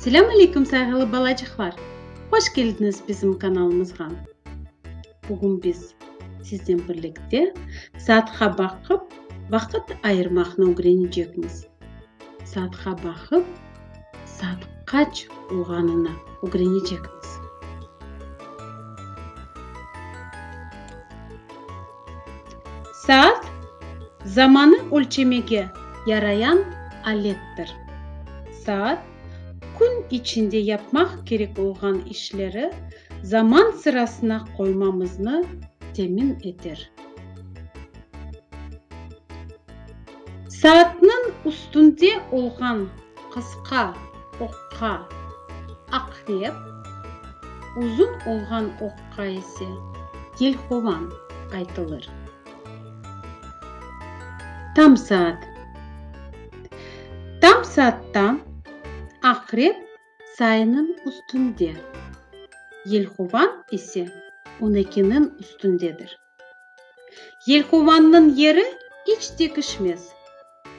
Selâm aleyküm sayğılı balacıqlar! Hoş keldiniz bizim kanalımızğa! Bugün biz sizden birlikte saatqa baqıp vaqıt ayırmaqnı ögrenecekmiz. Saatqa baqıp saat qaç olğanını ögrenecekmiz. Saat, zamanı ölçemege yarayan alettir. Saat, kün içinde yapmaq kerek olğan işleri zaman sırasına qoymamıznı temin eter. Saatnıñ üstünde olğan qısqa oqqa aqrep, uzun olğan oqqa qayısı kel qovan aytılır? Tam saat. Tam saatta aqrep sayınıñ üstünde, yelqovan ise on ekiniñ üstündedir. Yelqovannıñ yeri iç tekişmez,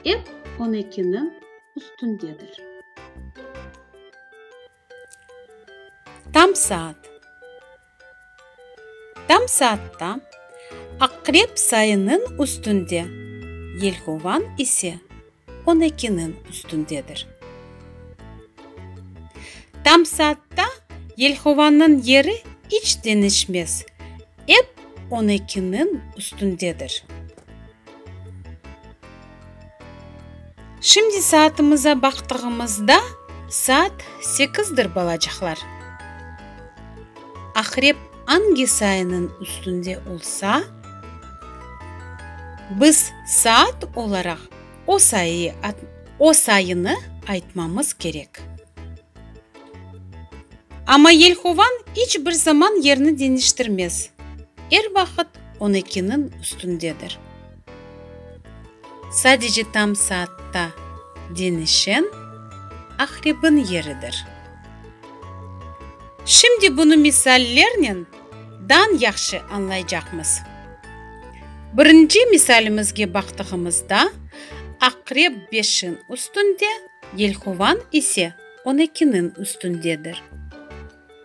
ep on ekiniñ üstündedir. Tam saat. Tam saatta Aqrep sayınıñ üstünde, yelkovan ise on ekiniñ üstündedir. Tam saatta yelkovanıñ yeri iç deñişmez, ep on ekiniñ üstündedir. Şimdi saatımıza baqtığımızda saat sekizdir, balacaqlar. Aqrep angi sayınıñ üstünde olsa, biz saat olaraq o sayı, o sayını aytmamız kerek. Amma yelhovan iç bir zaman yerini deñiştirmez, er vaqıt onıkiniñ üstündedir. Sadece tam saatta deñişen Aqrebiñ yeridir. Şimdi bunı misallernen dan yahşı añlaycaqmız. Birinci misalimizge baqtığımızda, Aqreb beşiñ üstünde, Yelhovan ise on ekiniñ üstündedir.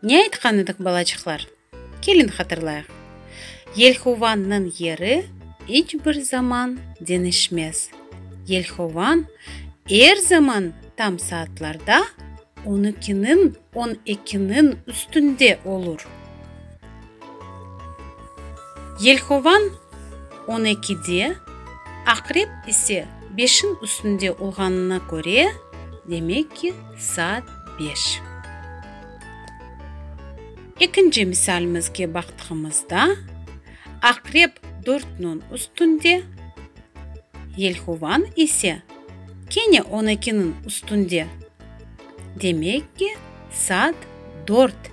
Ne aytqan edik, balaçıqlar? Keliñ hatırlayıq. Yelhovannıñ yeri iç bir zaman deñişmez. Yelhovan er zaman tam saatlarda on ikiniñ on ekiniñ üstünde olur. Yelhovan on ekide, Aqrep ise beşiñ üstünde olğanına köre, demek ki, saat beş. Ekinci misalimizge baqtığımızda, Aqrep dört nöñ üstünde, Yelhovan ise kene on ekiniñ üstünde, demek ki, saat dört.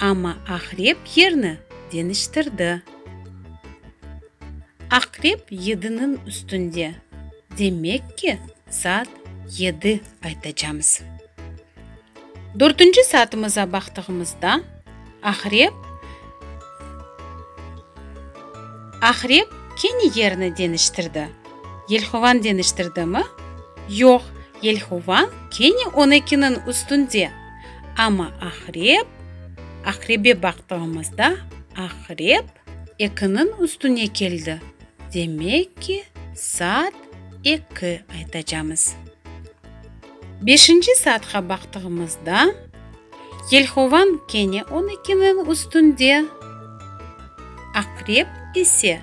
Amma aqrep yerni deñiştirdi. Aqrep yediniñ üstünde, demek ki, saat yedi aytacamız. Dörtünci saatımıza baqtığımızda, aqrep Aqrep kene yerni deñiştirdi. Yelhovan deñiştirdimi? Yoq, yelhovan kene on ekiniñ üstünde. Amma aqrep, aqrebe baqtığımızda, aqrep ekiniñ üstüne keldi, demek ki, saat eki aytacamız. Beşinci saatqa baqtığımızda, yelhovan kene on ekiniñ üstünde, aqrep ise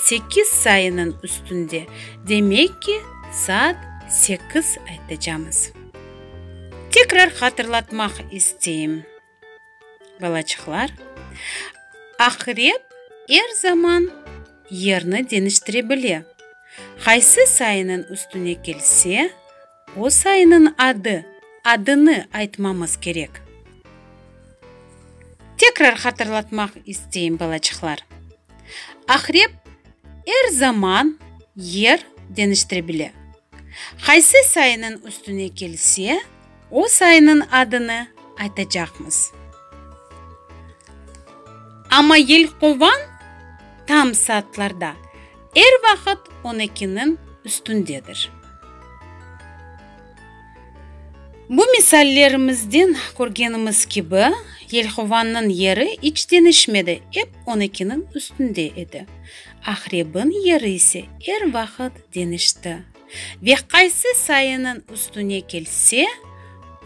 sekiz sayınıñ üstünde, demek ki, saat sekiz aytacamız. Tekrar hatırlatmaq isteyim, balaçıqlar, aqrep er zaman yerni deniştire bile, qaysı sayınıñ üstüne kelse, o sayınıñ adı, adını aytmamız kerek. Tekrar hatırlatmaq isteyim, balaçıqlar. Aqrep er zaman yer deñiştire bile. Qaysı sayınıñ üstüne kelse, o sayınıñ adını aytacaqmız. Amma yelqovan tam saatlarda er vaqıt on ekiniñ üstündedir. Bu misallerimizden körgenimiz kibi, yelhovanıñ yeri iç deñişmedi, ep on ekiniñ üstünde edi. Aqrebiñ yeri ise er vaqıt deñişti, ve qaysı sayınıñ üstüne kelse,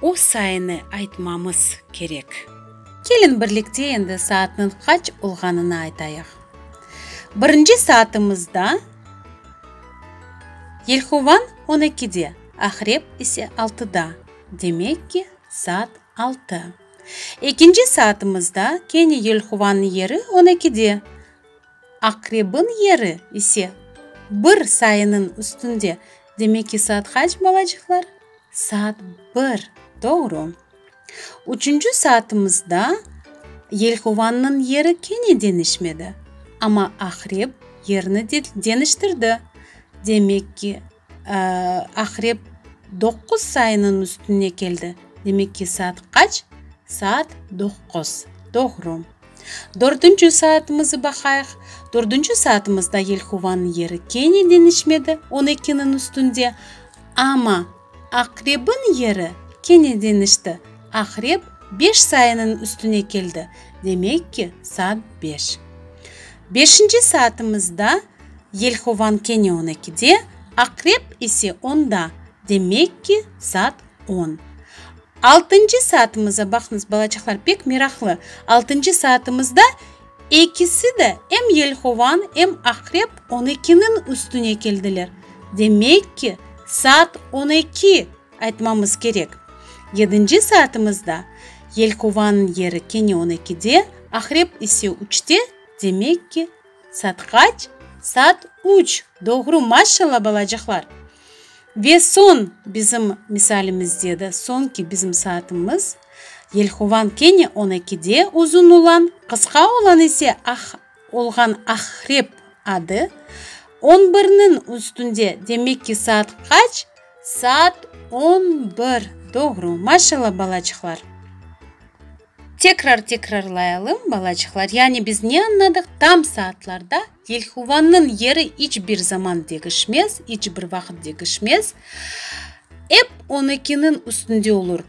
o sayını aytmamız kerek. Keliñ birlikte endi saatnıñ qaç olğanını aytayıq. Birinci saatımızda Yelhovan on ekide, Aqrep ise altıda, demek ki, saat altı. Ekinci saatımızda kene Yelhovanıñ yeri on ekide, Aqrebiñ yeri ise bir sayınıñ üstünde, demek ki, saat qaç, balacıqlar? Saat bir, doğru. Üçünci saatımızda yelkovanniñ yeri kene deñişmedi, amma aqrep yerini deñiştirdi. Demek ki, aqrep doqquz sayınıñ üstüne keldi. Demek ki, saat qaç? Saat doqquz. Doğru. Dördünci saatımızı baqayıq. Dördünci saatımızda yelkovanniñ yeri kene deñişmedi, on ekiniñ üstünde, amma. Aqrebin yeri kene deñişti. Aqreb beş sayınıñ üstüne keldi, demek ki, saat beş. Beşinci saatımızda yelhovan kene on ekide, aqreb ise onda, demek ki, saat on. Altıncı saatımıza baqıñız, balaçaqlar, pek meraqlı, altıncı saatımızda, Ekisi de, em yelhovan, em aqrep on ekiniñ üstüne keldiler. Demek ki, saat on eki, aytmamız kerek. Yedinci saatimizde, yelhovanıñ yeri kene on ekide, aqrep ise üçte, demek ki, saat qaç? Saat üç, doğru, maşşalla, balacıqlar! Ve soñ bizim misalimizde de soñki bizim saatımız, yelhovan kene on ekide uzun olan, qısqa olan ise ah olğan ahrep adı, on birniñ üstünde, demek ki, saat qaç? Saat on bir, doğru, maşalla balaçıqlar. Tekrar tekrarlayalım, balaçıqlar, yani biz ne añladıq? Tam saatlarda yelhuvannıñ yeri iç bir zaman degişmez, iç bir vaqıt degişmez. Ep on ekiniñ üstünde olur.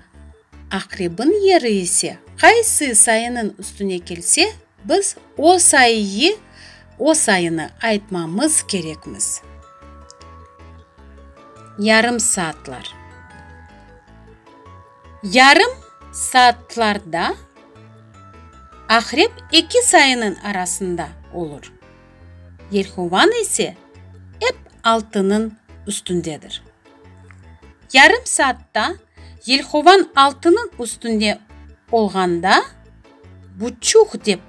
Aqrebiñ yeri ise, qaysı sayınıñ üstüne kelse, biz o sayıyı, o sayını aytmamız kerekmiz. Yarım saatlar. Yarım saatlarda Aqrep eki sayınıñ arasında olur, Yelhovan ise ep altınıñ üstündedir. Yarım saatta Yelhovan altınıñ üstünde olğanda, buçuq dep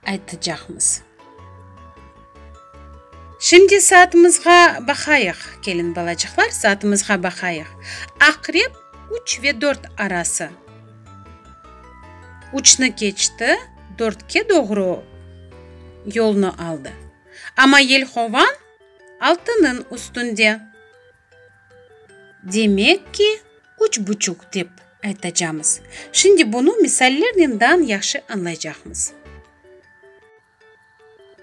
aytacaqmız. Şimdi saatımızğa baqayıq, kelin balacıqlar, saatımızğa baqayıq. Aqrep üç ve dört arası. Üçni keçti, dörtke doğru yolnı aldı. Amma yelhovan altınıñ üstünde. Demek ki, üç buçuq dep aytacamız. Şimdi bunı misallernen dan yahşı añlaycaqmız.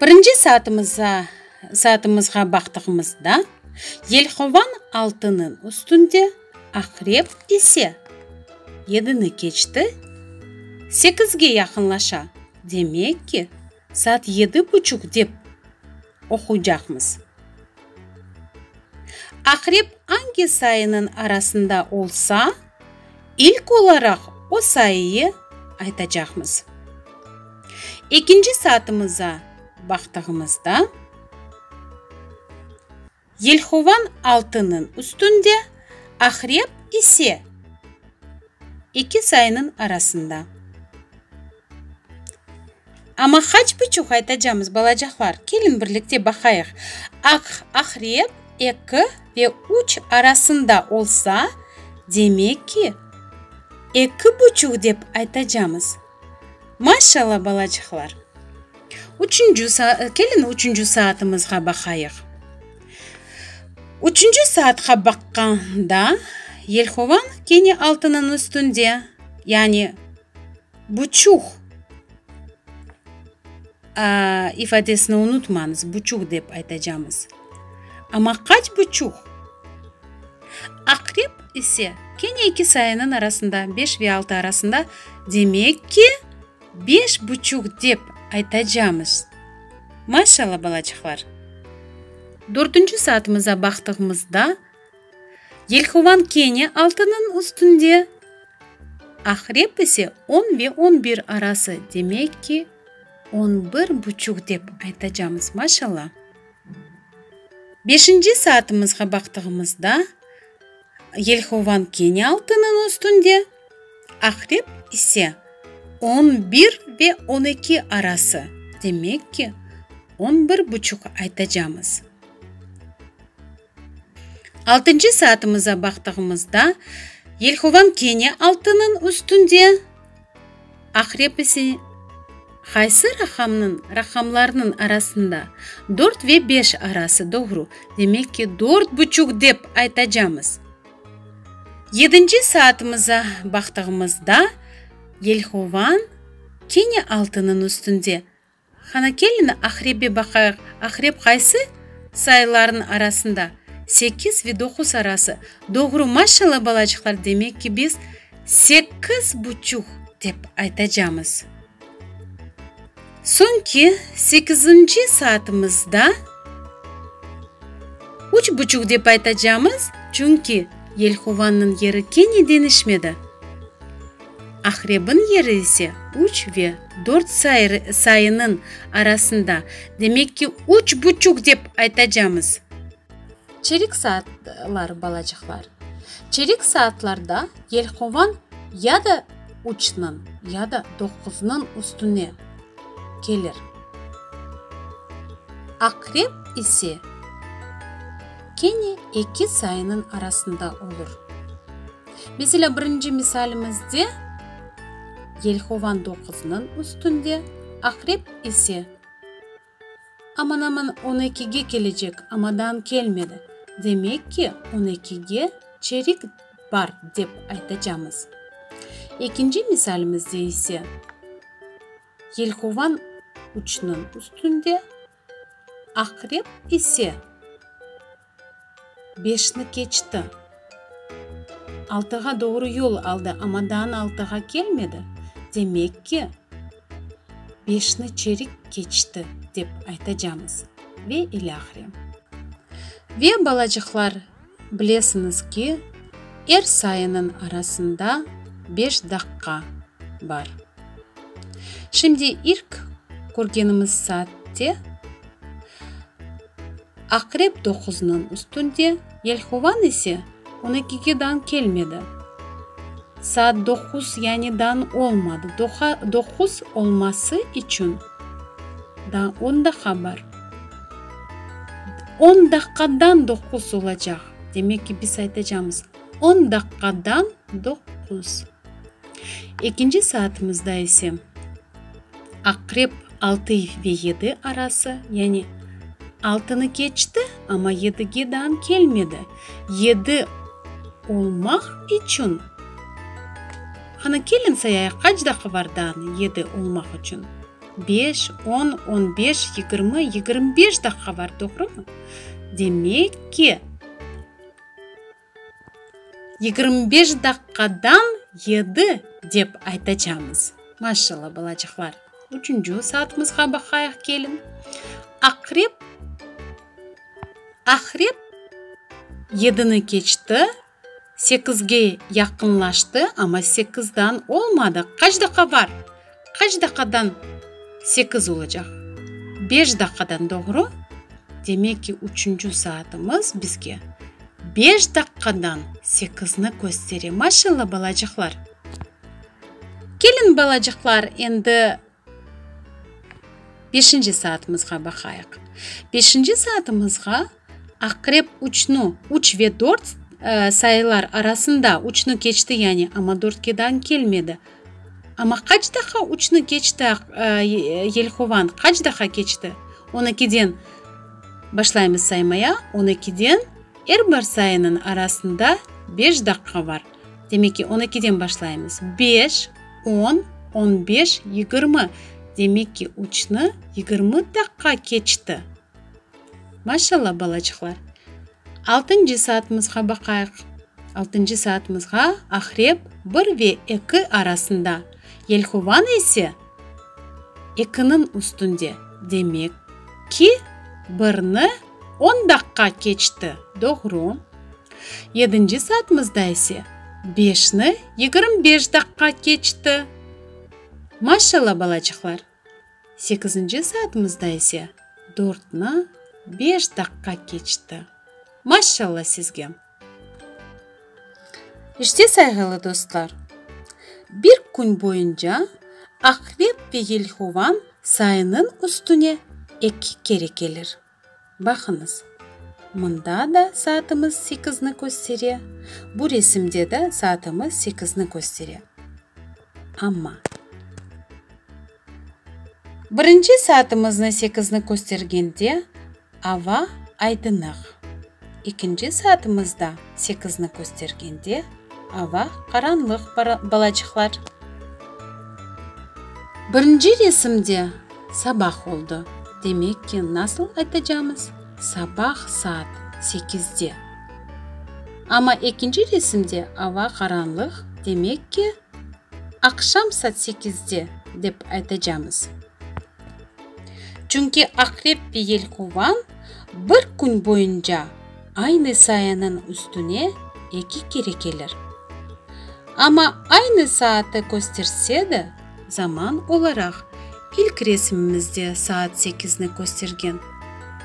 Birinci saatımıza saatımızğa baqtığımızda, yelhovan altınıñ üstünde, aqrep ise yedini keçti, sekizge yaqınlaşa. Demek ki. Saat yedi buçuq dep oquycaqmız. Aqrep angi sayınıñ arasında olsa, ilk olaraq o sayıyı aytacaqmız. Ekinci saatımıza baqtığımızda. Yelhovan altınıñ üstünde, Aqrep ise eki sayınıñ arasında. Amma haç buçuq aytacamız, balacaqlar? Keliñ, birlikte baqayıq. Aq Aqrep eki ve üç arasında olsa, demek ki, eki buçuq dep aytacamız. Maşşalla, balaçıqlar! Üçünci, keliñ üçünci saatimizğa baqayıq. Üçünci saatqa baqqanda, yelhovan kene altınıñ üstünde, yani buçuh. A ifadesini unutmañız, buçuq dep aytacamız. Amma qaç buçuq? Aqrep ise, kene eki sayınıñ arasında, beş ve altı arasında, demek ki, beş buçuq dep aytacamız. Maşallah, balacıqlar! Dörtünci saatımıza baqtığımızda. Yelhovan kene altınıñ üstünde, Aqrep ise on ve on bir arası, demek ki, on bir buçuq dep aytacamız, maşalla. Beşinci saatımızğa baqtığımızda, Yelhovan kene altınıñ üstünde, Aqrep ise on bir ve on eki arası, demek ki, on bir buçuq aytacamız. Altıncı saatımıza baqtığımızda, yelhovam kene altınıñ üstünde, aqrep ise, qaysı raqamnıñ, raqamlarnıñ arasında? Dört ve beş arası, doğru. Demek ki, dört buçuq dep aytacamız. Yedinci saatımıza baqtığımızda, yelhovam kene altınıñ üstünde, Hana kelini Aqrebbe baqayıq, Aqreb qaysı sayılarnıñ arasında? Sekiz ve doquz arası. Doğru, maşalla balacıqlar, demek ki, biz sekiz buçuq dep aytacamız. Soñ ki, sekizinci saatımızda üç buçuq dep aytacamız, çünki Yelhuvannıñ yeri kene deñişmedi. Aqrebin yeri ise üç ve dört sayınıñ arasında, demek ki, üç buçuq dep aytacamız. Çeyrek saatlar, balacıqlar. Çeyrek saatlarda yelqovan ya da üçniñ, ya da doquznıñ üstüne kelir. Aqreb ise kene eki sayınıñ arasında olur. Meselâ, birinci misalimizde, yelhovan doquzınıñ üstünde, aqrep ise aman-aman on ekige kelecek, amadan kelmedi. Demek ki, on ekige çerik bar, dep aytacamız. Ekinci misalimizde ise, yelhovan üçniñ üstünde, Aqrep ise, beşni keçti. Altığa doğru yol aldı, amma daa altığa kelmedi. Demek ki, beşni çerik keçti, dep aytacamız. Ve ilâhre. Ve, balacıqlar, Bilesiñiz ki, er sayınıñ arasında beş daqqa bar. Şimdi ilk körgenimiz saatte Aqrep doquzniñ üstünde, Yelhovan ise on ekige dañ kelmedi. Saat doquz, yani dañ olmadı. Doquz olması içün. Da on daqqa bar. On daqqadan doquz olacaq. Demek ki, biz aytacamız, On daqqadan doquz. Ekinci saatimizda ise, aqrep altı ve yedi arası, yani altını keçti, amma yedige dan kelmedi. Yedi olmaq içün. Hanı kelin sayayıq qaç daqı var dan yedi olmaq içün? Beş, on, on beş, yigirmi, yigirmi beş daqqa var, doğrumı? Demek ki, yigirmi beş daqqadan yedi dep aytacamız. Maşalla, balacıqlar! Üçünci saatımızğa baqayıq kelin. Aqrep, aqrep yedini keçti. Sekizge yaqınlaştı, amma sekizdan olmadı. Qaç daqa bar? Qaç daqadan sekiz olacaq? Beş daqadan, doğru? Demek ki, üçünci saatımız bizge beş daqadan sekizni köstere. Maşallah, balacıqlar! Keliñ, balacıqlar, endi Beşinci saatımızğa baqayıq. Beşinci saatımızğa Aqrep uçnı, uç ve dört sayılar arasında uçnı keçti, yani amma dörtkedan kelmedi. Amma qaç defa uçnı keçti yelhovan, qaç defa keçti? On ekiden başlaymız saymaya, on ekiden er bir sayınıñ arasında beş daqqa bar. Demek ki, on ekiden başlaymız. Beş, on, on beş, yigirmi. Demek ki, üçni yigirmi daqqa keçti. Maşallah, balaçıqlar. Altıncı saatımızğa baqayıq. Altıncı saatımızğa Aqrep bir ve eki arasında, Yelhovan ise ekiniñ üstünde. Demek ki, birni on daqqa keçti. Doğru. Yedinci saatımızda ise, beşni yigirmi beş daqqa keçti. Maşalla, balacıqlar! Sekizinci saatımızda ise, dörtni beş daqqa keçti. Maşalla sizge! İşte, sayğılı dostlar, bir kün boyunca Aqrep ve Yelhovan sayınıñ üstüne eki kere kelir. Baqıñız, mında da saatımız sekizni köstere, bu resimde de saatımız sekizni köstere. Amma. Birinci saatımıznı sekizni köstergende ava aydınıq. Ekinci saatımızda sekizni köstergende, ava qaranlıq, balacıqlar. Birinci resimde sabah oldı, demek ki, nasıl aytacamız? Sabah saat sekizde. Amma ekinci resimde ava qaranlıq, demek ki, Aqşam saat sekizde, dep aytacamız. Çünki Aqrep ve Yelkovan bir kün boyunca aynı sayanıñ üstüne eki kere kelir. Amma aynı saatı kösterse de, zaman olaraq ilk resimimizde saat sekizni köstergen,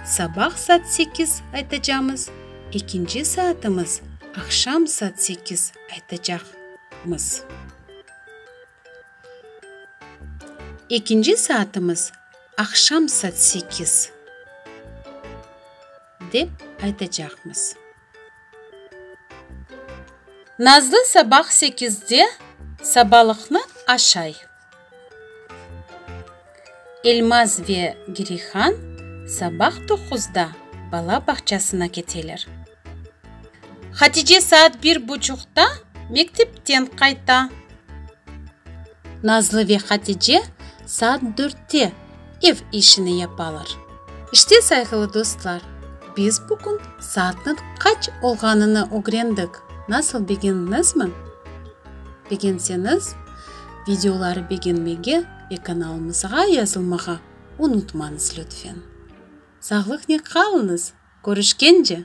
sabah saat sekiz aytacamız, ekinci saatımız aqşam saat sekiz. aytacaqmız. Ekinci saatımız aqşam saat sekiz dep aytacaqmız. Nazlı sabah sekizde sabalıqnı aşay. Elmaz ve Girihan sabah doquzda bala bağçasına keteler. Hatice saat bir buçuqta mektepten qayta. Nazlı ve Hatice saat dörtte ev işini yapalar. İşte, sayğılı dostlar, biz bugün saatnıñ qaç olğanını ögrendik, nasıl, begendiñizmi? Begenseñiz, videoları begenmege ve kanalımızğa yazılmağa unutmañız lütfen. Sağlıqnen qalıñız, körüşkence!